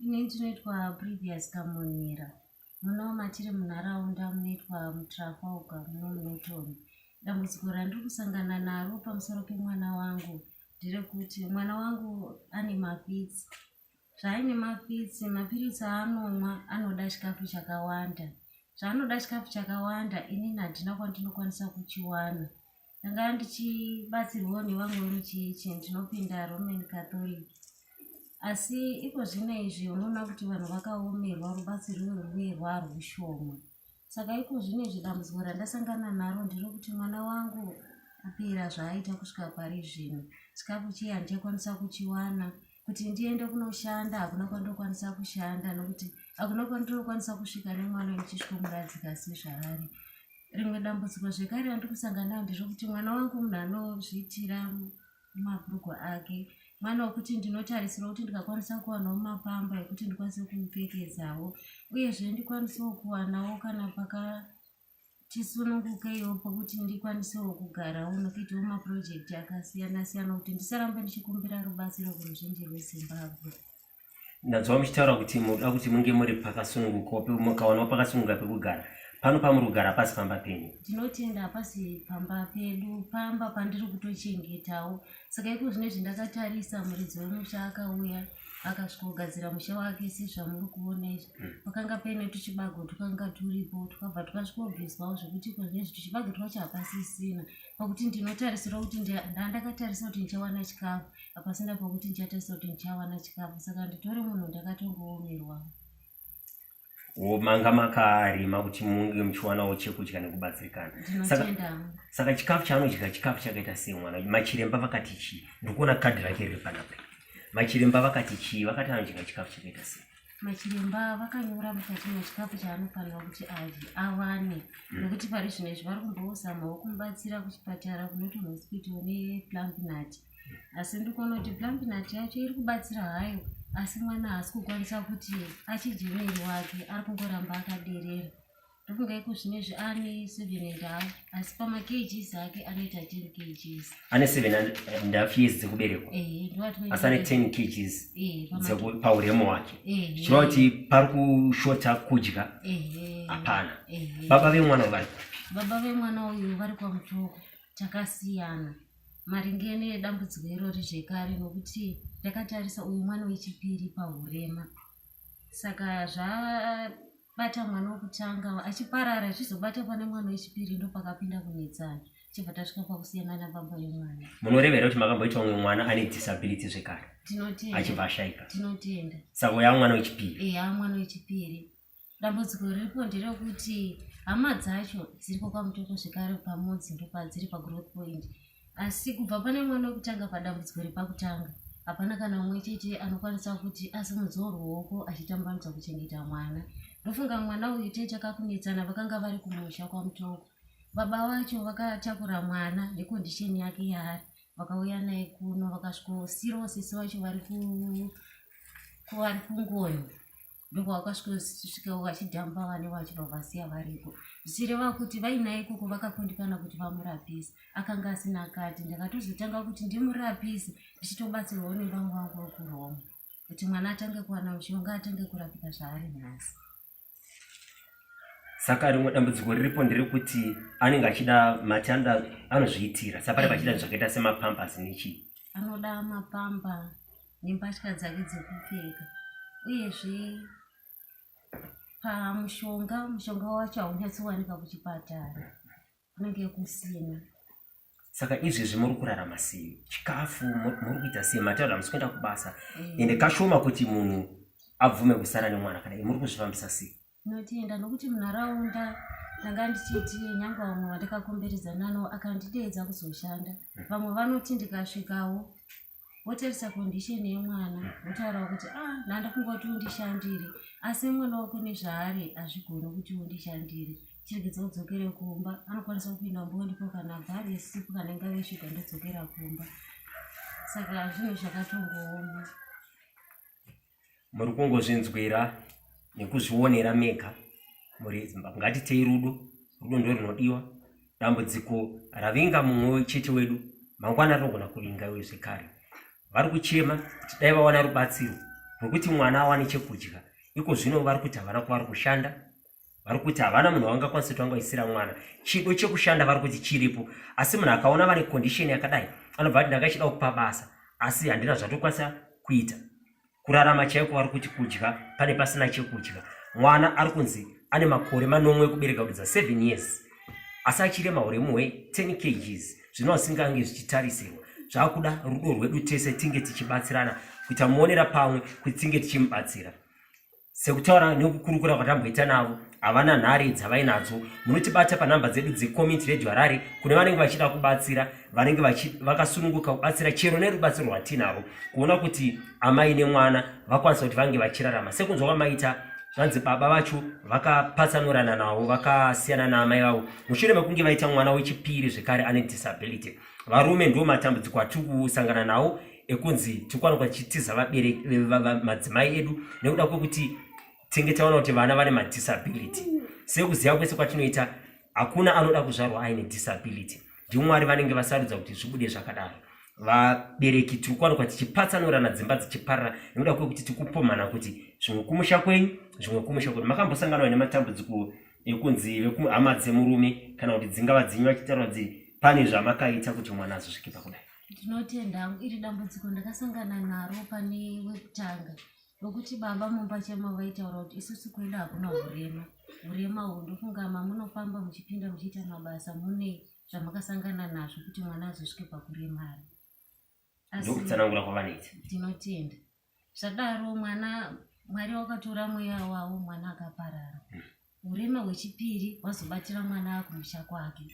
ine ndinoitwa previous kamonera muno matiri munharaunda munoitwa mutrafalga muno munotoni dambudziko randiri kusangana naro pamusoro pemwana wangu nderekuti mwana wangu ane mafitsi Zvaine mapitsi, mapiritsi aanomwa anoda chikafu chakawanda. Zvaanoda chikafu chakawanda inini handina kwandinokwanisa kuchiwana. Ndanga ndichibatsirwawo nevamwe vemuchechi ndinopinda Roman Catholic. Asi iko zvino izvi unoona kuti vanhu vakaomerwa rubatsiro rwuye rwaarushoma. Saka iko zvino izvi dambudziko randasangana naro ndiro kuti mwana wangu apera zvaaita kusvika pari zvino. Chikafu chiye handichakwanisa kuchiwana. Kuti ndiende kunoshanda hakuna kwandinokwanisa kushanda nokuti hakuna kwandinokwanisa kusvika nemwana ndichisvikomuradzika sezvaari. Rimwe dambudziko zvekare randiri kusangana naro ndiro kuti mwana wangu munhu anozviitira mabhurugwa ake mwana wekuti ndinotarisira kuti ndikakwanisa kuwanawo mapamba ekuti ndikwanise kumupfekezawo uyezve ndikwanisewo kuwanawo kana paka tisunungukewo pokuti ndikwanisewo kugarawo nokuitawo mapurojekiti akasiyana siyana kuti ndisarambe ndichikumbira rubatsiro kuruzhinji rwezimbabwe ndadzwa muchitaura kuti muda kuti munge muri pakasununguka pe mukaonawo pakasununguka pekugara pano pamuri kugara pasi pamba penyu ndinotenda pasi pamba pedu pamba pandiri kutochengetawo saka iko zvine zvindakatarisa muridzi wemusha akauya akasvikogadzira musha wake sezvamuri kuona izvi hmm. pakanga paine tuchibago twakanga turipo twakabva twasvikobviswawo zvekuti iko zvine zvi tuchibago twacho hapasisina pakuti ndinotarisira kuti ndandakatarisa kuti ndichawana chikafu hapasina pakuti ndichatarisa kuti ndichawana chikafu saka nditori munhu ndakatongoomerwa manga makaarima kuti munge muchiwanawo chekudya nekubatsirikana saka chikafu chaanodya chikafu chakaita sei mwana machiremba vakati chii ndikuona kadhi rake riri panapa machiremba vakati chii vakati anodya chikafu chakaita sei machiremba vakanyora mukati mechikafu chaanofanira kuti adye awane mm. nokuti pari zvino izvi vari kumbozamawo kumubatsira kuchipatara kunoti hospital neplampinat asi ndikuona kuti plampinat yacho iri kubatsira hayo asi mwana haasi kukwanisa kuti achidye mwiri wake ari kungoramba akaderera Ndofunga iko zvine zvi ane 7 and half asi pama kgs ake anoita 10 kgs. Ane 7 and half years dzekuberekwa. Eh, ndowatinoita. Asi ane 10 kgs. Eh, dzeko pauremu wake. Eh. Zvino kuti pari kushota kudya. Eh. Hapana. Eh. Baba vemwana vari kupi? Baba vemwana uyu vari kwa Mutoko. Takasiyana. Maringe nedambudziko irori zvekare nokuti ndakatarisa uyu mwana wechipiri pahurema. Saka zva bata mwana wokutanga achiparara achizobata pane mwana wechipiri ndopakapinda kunetsana chibva tasvika pakusiyana nababa yemwana munorevera kuti makamboita umwe mwana ane disability zvekare achibva ashaika tinotenda saka uya mwana wechipiri eya mwana wechipiri dambudziko riripo nderekuti hama dzacho dziriko kwamutoko zvekare pamodzi ndopadziri pagrowth point asi kubva pane mwana wekutanga padambudziko repakutanga hapana kana umwe chete anokwanisa kuti asimudzoo ruoko achitambanudza kuchengeta mwana ndofunga mwana uyu tete akakunetsana vakanga vari kumusha kwamutoko baba vacho vakatakura mwana nekondisheni yake yaari vakauya naye kuno vakasvikosirosisi vacho vari kuvari kungoyo ndokwavakasvikosvika vachidhamba vane vacho vavasiya variko zvichireva kuti vainaye ikoko vakakundikana kuti vamurapise akanga asina akati ndakatozotanga kuti ndimurapise ndichitobatsirwawo nevamwe vangu vekuroma kuti mwana atange kuwana mushonga atange kurapika zvaari nhasi saka rimwe dambudziko riripo nderekuti anenge achida mati anoda anozviitira sapari pachida zvakaita semapambas nechii anoda mapamba nembatya dzake dzekupfeka uyezve pamushonga mushonga wacho haunyatsowanika kuchipatara kunenge kusina saka izvezvi muri kurarama sei chikafu muri kuita sei mataura hamusi kuenda kubasa eh. ende kashoma kuti munhu abvume kusara nemwana kana muri kuzvifambisa sei Ndinotenda nokuti munharaunda ndanga ndichiti nyangwe vamwe vandakakomberedza nano akandideedza kuzoshanda vamwe vanoti ndikasvikawo votarisa condition yemwana votaurawo kuti a ah, ndandafunga kuti undishandire asi mwana wako nezvaari hazvigoni kuti undishandire chiregedza kudzokere kumba anokwanisa kupinda mbondipo kana bhari yesipo kana ingave shuga ndodzokera kumba saka zvinhu zvakatongooma muri kungozvinzwira nekuzvionera mega muri zimbabwe ngatitei rudo rudo ndo rinodiwa dambudziko ravinga mumwe chete wedu mangwana rinogona kuvinga iwe zvekare vari kuchema kuti dai vawana rubatsiro rwekuti mwana awane chekudya iko zvino vari kuti havana kwavari kushanda vari kuti havana munhu wavangakwanisa kuti vangaisira mwana chido chekushanda vari kuti chiripo asi munhu akaona vane condition yakadai anobva ati ndakachida kupa basa asi handina zvatokwanisa kuita kurarama chaiko vari kuti kudya pane pasina chekudya mwana ari kunzi ane makore manomwe ekubereka kudza 7 years asi achirema uremu hwe 10 kgs zvino asingange zvichitarisirwa zvakuda rudo rwedu tese tinge tichibatsirana kuita muonera pamwe kuti tinge tichimubatsira Sekutaura nekukurukura kwatamboita navo, havana nhare dzavainadzo. Munotibata panhamba dzedu dzeCommunity Radio Harare kune vanenge vachida kubatsira, vanenge vakasununguka kubatsira chero nerubatsiro rwatinarwo kuona kuti amai nemwana vakwanisa kuti vange vachirarama. Sekunzwa kwamaita zvanzi baba vacho vakapatsanurana navo vakasiyana naamai vavo mushure mekunge vaita mwana wechipiri zvekare ane disability varume ndo matambudziko atiri kusangana nawo ekunzi tikwanokwa tichitiza vabereki madzimai edu nekuda kwekuti tinge taona kuti vana vane madisability sekuziva kwese kwatinoita hakuna anoda kuzvarwa aine disability ndimwari vanenge vasarudza kuti zvibude zvakadaro vabereki tiri kuwanikwa tichipatsanurana dzimba dzichiparira nekuda kwekuti tikupomhana kuti zvimwe kumusha kwenyu zvimwe kumusha kwenyu makambosanganwa nematambudziko ekunzi vekuhama dzemurume kana kuti dzingava dzenyu vachitaura kuti pane zvamakaita kuti mwana azosvike pakudai Ndinotenda hangu iri dambudziko ndakasangana naro pane wekutanga nokuti baba mumba chema vaitaura kuti isusu kuenda hakuna urema urema uhwu ndofunga mamunofamba muchipinda muchiita mabasa mune zvamakasangana nazvo kuti mwana azosvike pakuremara ndokutsanangura kwavanoita ndinotenda zvadaro mwana mwari wakatora mweya wavo mwana akaparara hmm. urema hwechipiri wazobatira mwana akumusha kwake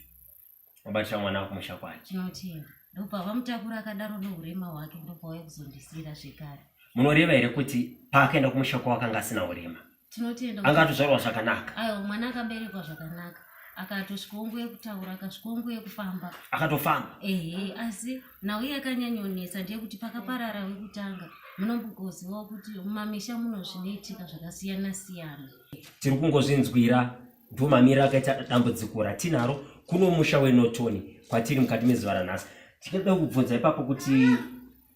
wabatira mwana kumusha kwacho tinotenda ndopa vamutakura akadaro neurema hwake ndopa wauya kuzondisira zvekare munoreva here kuti paakaenda kumusha kwavo akanga asina urema tinotenda anga atozvarwa zvakanaka aiwa mwana akaberekwa zvakanaka akatosvikonguye kutaura akasvikonguye kufamba akatofamba ehe asi nhau iye akanyanyonetsa ndeyekuti pakaparara wekutanga munombogozivawo kuti mumamisha muno zvinoitika zvakasiyana siyana tiri kungozvinzwira ndiwo mamiriro akaita dambudziko ratinaro kuno musha wenotoni kwatiri mukati mezuva ranhasi tichada kubvunza ipapo kuti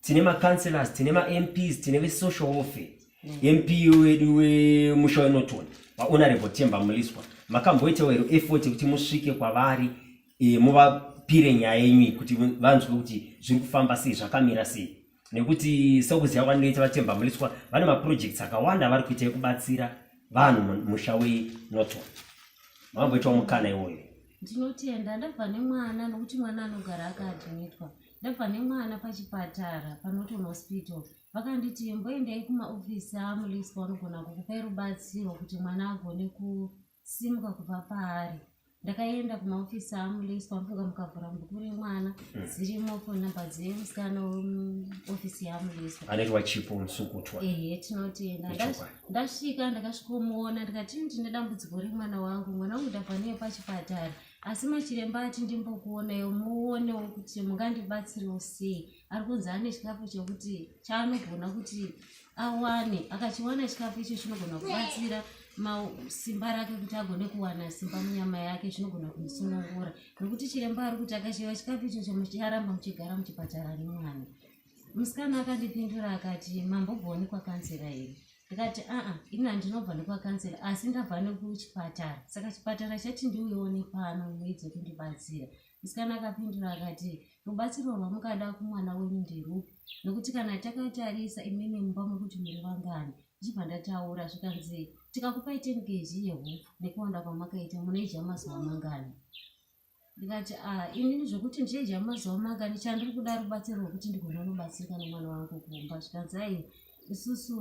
tine macouncelors tine mamps tine vesocial warfare mp wedu wemusha wenotoni vahonorable temba muliswa makamboitawo hero effort kuti musvike kwavari e, muvapire nyaya yenyu kuti vanzwe kuti zviri kufamba sei zvakamira sei nekuti sekuziva kwandinoita vachembwa muliswa vane maprojects akawanda avari kuita ekubatsira vanhu musha wenoto mamboitawo mukana iwoyo ndinotenda ndabva nemwana nokuti mwana anogara akaadhimitwa ndabva nemwana pachipatara panoton hospital vakanditi mboendai kumaofisi amuliswa vanogona kukupai rubatsiro kuti mwana agone ku simuka kubva paari ndakaenda kumaofisi aamulesi kwamufunga mukavhura bhuku remwana hmm. dzirimo foni number dzemusikana weofisi yaamuleswa anaitwa chipo musukutwa ehe tinotienda ndasvika ndakasvikomuona ndikati ndine dambudziko remwana wangu mwana wangu ndabvaniye pachipatara asi machiremba ati ndimbokuonayo muonewo kuti mungandibatsiriwo sei ari kunzi ane chikafu chekuti chaanogona kuti awane akachiwana chikafu icho chinogona kubatsira simba rake kuti agone kuwana simba munyama yake chinogona kumusunungura nokuti chiremba ari kuti akashiva chikafu icho chomucharamba muchigara muchipatara nemwana musikana akandipindura akati mambobvoni kwakansera here ndikati aa ini handinobva nekwakansera asi ndabva nekuchipatara saka chipatara chati ndiuyewo nepano muedze kundibatsira Musikana akapindura akati, Rubatsiro rwamukada kumwana wenyu nderwupi? Nokuti kana takatarisa imimi mumba mokuti muri vangani, ndichibva ndataura, zvikanzi, Tikakupai ten kg yehupfu nekuwanda kwamakaita, munoidya mazuva mangani? Ndikati, Ah, inini zvokuti ndichaidya mazuva mangani, chandiri kuda rubatsiro rwokuti ndigone kubatsirika nomwana wangu kumba. Zvikanzi, Ayi, isusu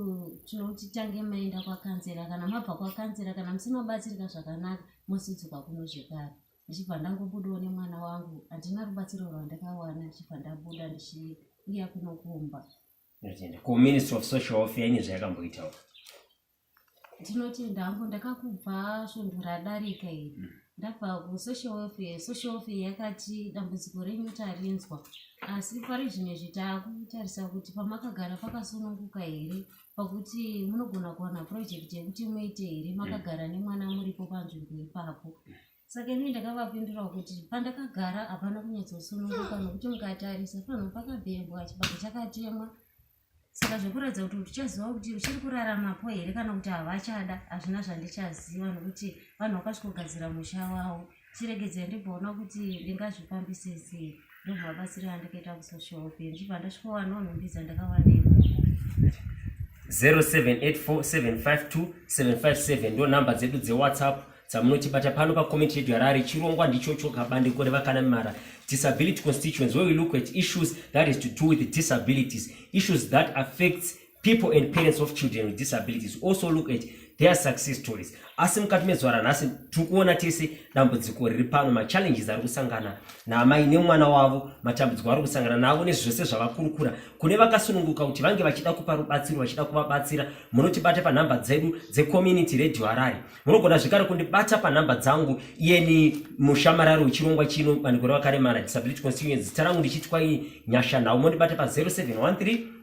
tinoti tange maenda kwakanzera, kana mabva kwakanzera, kana musina batsirika zvakanaka, mosudzuka kuno zvekare. ndichibva ndangobudawo nemwana wangu handina rubatsiro rwandakawana ndichibva ndabuda ndichiuya kunokumba ndotenda kuministry of social welfare ine zvayakamboitawo ndinotenda hangu ndakakubva svundu radarika iri mm. ndabva kusocial welfare social welfare yakati dambudziko renyu tarinzwa asi pari zvimwe zvitaakutarisa kuti pamakagara pakasununguka here mm. pakuti munogona kuwana project yekuti muite here makagara mm. nemwana muripo panzvimbo ipapo saka ini ndakavapindura kuti pandakagara hapana kunyatsosununguka nokuti mukatarisa panhu pakabhembwa chibako chakatemwa saka zvekuratidza kuti tichaziva kuti uchiri kuraramapo here kana kuti havachada hazvina zvandichaziva nokuti vanhu vakasvikogadzira musha wavo chiregedzai ndimboona kuti ndingazvifambise sei ndobva batsira andikaita kusocial work ndibva ndasvikowana unondiza ndakawana ikoko 0784752757 ndo nhamba dzedu dzewhatsapp dzamunotibata pano pacomment yedu yarari chirongwa ndichocho kabandiko revakanamimara disability constituents where we look at issues that is to do with disabilities issues that affects people and parents of children with disabilities also look at their success stories asi mukati mezuva ranhasi tiri kuona tese dambudziko riri pano machallenges ari kusangana naamai nemwana wavo matambudziko ari kusangana navo nezvose zvavakurukura kune vakasununguka kuti vange vachida kupa rubatsiro vachida kuvabatsira munotibata panhamba dzedu dzecommunity radio harari munogona zvekare kundibata panhamba dzangu iyeni mushamarari wechirongwa chino bandiko revakaremara disability constituency zita rangu ndichitwa nyasha nhau mondibata pa 0713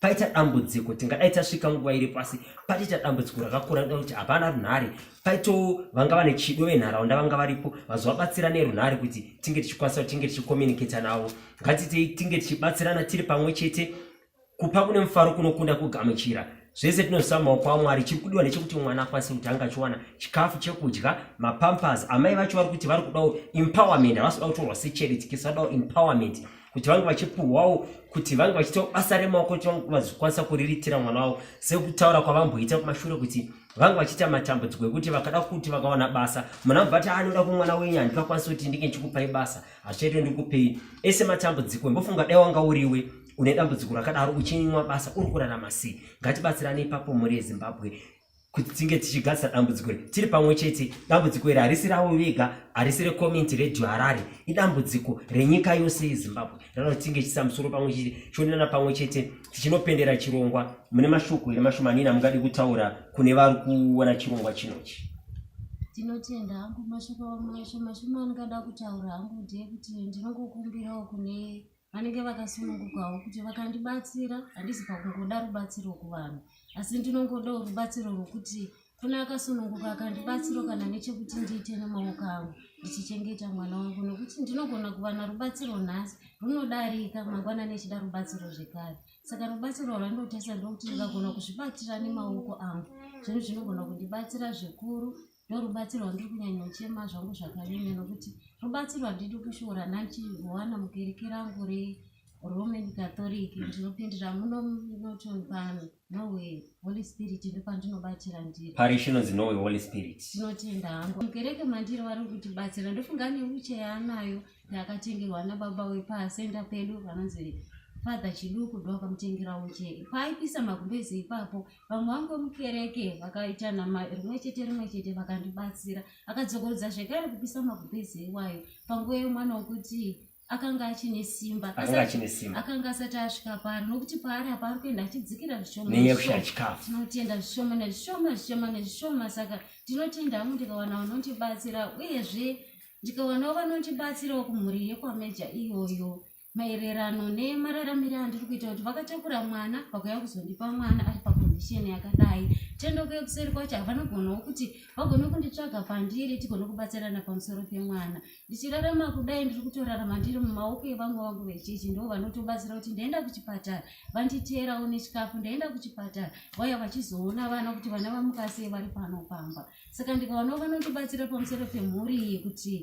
paita dambudziko tingadai tasvika nguva iri pasi pataita dambudziko rakakura nda kuti hapana runhare paitoo vanga vane chido venharaunda vanga varipo vazovabatsira nerunhare kuti tinge tichikwanisa kuti tinge tichicommunicata navo ngatitei tinge tichibatsirana tiri pamwe chete kupa kune mufaro kunokunda kugamuchira zvese tinozisa maoko amwari chiri kudiwa nechekuti mwana akwanise kuti anga achiwana chikafu chekudya mapampers amai vacho vari kuti vari kudawo empowerment havasi kuda kutorwa secharity kisi vadawo empowerment kuti vange vachipuhwawo kuti vange vachitawo basa remaoko kuti vange vazikwanisa kuriritira mwana wavo sekutaura kwavamboita kumashure kuti vange vachiita matambudziko ekuti vakada kuti vakawana basa mwana vabva ti anoda kumwana wenyu handikakwanisa kuti ndinge ndichikupai basa hazvichaito ndikupei ese matambudziko imbofunga dai wanga uriwe une dambudziko rakadaro uchinwa basa uri kurarama sei ngatibatsirane ipapo mhuri yezimbabwe kuti tinge tichigadzisa dambudziko iri tiri pamwe chete dambudziko iri harisi ravo vega harisi recommunity radio harare idambudziko renyika yose yezimbabwe rinoda kuti tinge tichisa musoro pamwe chete chionana pamwe chete tichinopendera chirongwa mune mashoko here mashomanini amungadi kutaura kune vari kuona chirongwa chinochi ndinotenda hangu mashoko mashomashoma andingada kutaura hangu ndeyekuti ndinongokumbirawo kune vanenge vakasunungukawo kuti vakandibatsira handisi pakungoda rubatsiro kuvanhu asi ndinongodawo rubatsiro rwokuti kuna akasununguka akandibatsiro kana nechekuti ndiite nemaoko angu ndichichengeta mwana wangu nokuti ndinogona kuva narubatsiro nhasi runodarika mangwana nechida rubatsiro zvekare saka rubatsiro rwandotesa ndokuti ndikagona kuzvibatira nemaoko angu zvinhu zvinogona kundibatsira zvikuru ndorubatsiro rwandiri kunyanya uchema zvangu zvakanyanya nokuti rubatsiro rwandidi kushora ndandichiwana mukereke rangu reroman catholic ndinopindira muno norton pano norway holy spirit ndo pandinobatsira ndiri parish inonzi norway holy spirit tinotenda hangu mukereke mandiri vari kutibatsira ndofunga neuche yaanayo yaakatengerwa nababa wepasenda pedu vanonzi father chiduku ndoakamutengera uche paaipisa magumbezi ipapo vamwe vangu mukereke vakaita nama rimwe chete rimwe chete vakandibatsira akadzokorodza zvekare kupisa magubhezi iwayo panguva yemwana wokuti akanga achine simba akanga asati asvika paari nokuti paari apa ari kuenda achidzikira zvishomatinotenda zvishoma nezvishoma zvishoma nezvishoma saka tinotenda hangu ndikawana vanondibatsira uyezve ndikawanawo vanondibatsirawo kumhuri yekwameja iyoyo maererano nemararamire andiri kuita kuti vakatakura mwana vakuya kuzondipa mwana ari pakondisheni yakadai tendo kuye kuseri kwacho havanogonawo kuti vagone kunditsvaga pandiri tigone kubatsirana pamusoro pemwana ndichirarama kudai ndiri kutorarama ndiri mumaoko evamwe vangu vechiji ndo vanotobatsira kuti ndaenda kuchipatara vanditeerawo nechikafu ndaenda kuchipatara vaya vachizoona vana kuti vana vamukasei vari pano pamba saka ndikaonawo vanondibatsira pamusoro pemhuri iyi kuti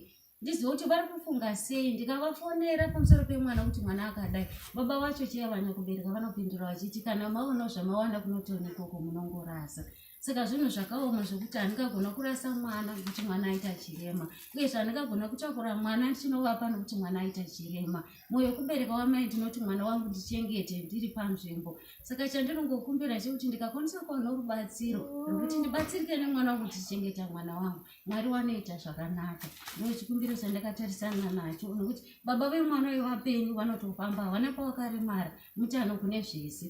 ndizive kuti vari kufunga sei ndikavafonera pamusoro pemwana kuti mwana akadai baba vacho chiya vanya kubereka vanopindura vachiti kana maonawo zvamawana kunotiona ikoko munongorasa saka zvinhu zvakaoma zvekuti handingagona kurasa mwana kuti mwana aita chirema uyezve handingagona kutakura mwana ndichinovapa nokuti mwana aita chirema mwoyo kubereka wamai ndinoti mwana wangu ndichengete ndiri panzvimbo saka chandirongokumbira chekuti ndikakwanisa kuona rubatsiro rwekuti ndibatsirike nemwana wangu ndichichengeta mwana wangu mwari wanoita zvakanaka ndochikumbiro chandakatarisana nacho nokuti baba vemwana uyo vapenyu vanotofamba havana kwawakaremara mutano kune zvese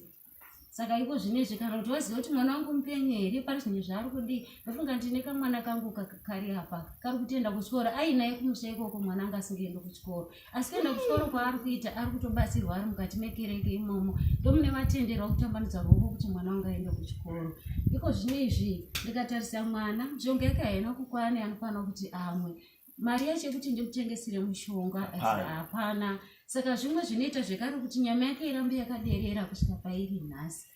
saka iko zvine izvi kana kuti waziva kuti mwana wangu mupenyu here pane zvinhu zvaari kudii ndofunga ndine kamwana kangu kari apa kari kutenda kuchikoro ainaye kumusha ikoko mwana anga asingaendi kuchikoro asi kuenda kuchikoro kwaari kuita ari kutobatsirwa ari mukati mekereke imomo ndomune matenderwa kutambanudza ruoko kuti mwana wangu aende kuchikoro iko zvino izvi ndikatarisa mwana mishonga yake haina kukwana anofanira kuti amwe mari yacho yekuti ndikutengesere mushonga hapana saka zvimwe zvinoita zvekare kuti nyama yake irambe yakaderera kusvika pairi nhasi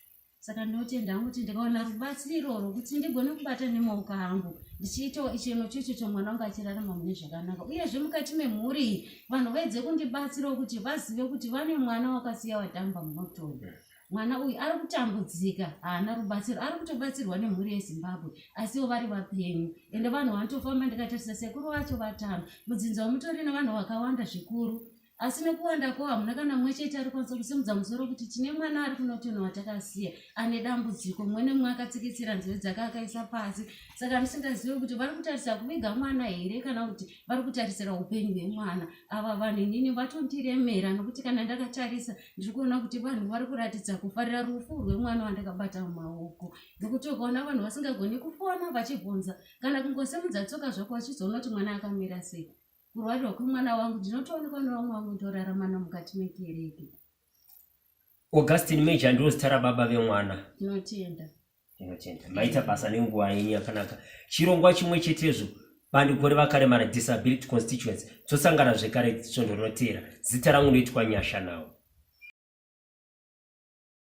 saka ndinotenda hangu kuti ndikawana rubatsiro rwokuti ndigone kubata nemaoko angu ndichiitawo icheno chocho chomwana wangu achirarama mune zvakanaka uyezve mukati memhuri vanhu vaedze kundibatsirawo kuti vazive kuti vane mwana wakasiya wadhamba munotoyo mwana uyu ari kutambudzika haana rubatsiro ari kutobatsirwa nemhuri yezimbabwe asiwo vari vapenyu ende vanhu vanotofamba ndikatarisa sekuru vacho vatano mudzinza wamutori nevanhu vakawanda zvikuru asi nekuwanda ko hamuna kana mumwe chete ari kwanisa kusimudza musoro kuti tine mwana ari kunotono watakasiya ane dambudziko mumwe nemumwe akatsikitsira nzeve dzake akaisa pasi saka ndisingazive kuti vari kutarisira kuviga mwana here kana kuti vari kutarisira upenyu hwemwana ava vanhu inini vatondiremera nokuti kana ndakatarisa ndiri kuona kuti vanhu vari kuratidza kufarira rufu rwemwana wandakabata mumaoko nokuti ukaona vanhu vasingagoni kufona vachibvunza kana kungosimudza tsoka zvako vachizoona kuti mwana akamira sei kurwarirwa kwemwana wangu ndinotoonekwa nevamwe vangu toraramana mukati mekereke augustin major ndiro zita rababa vemwana tinotenda tinotenda maita basa nenguva yenyu yakanaka chirongwa chimwe chetezvo bandiko revakaremara disability constituency tosangana zvekare svondo rinoteera zita rangu noitwa nyasha nawo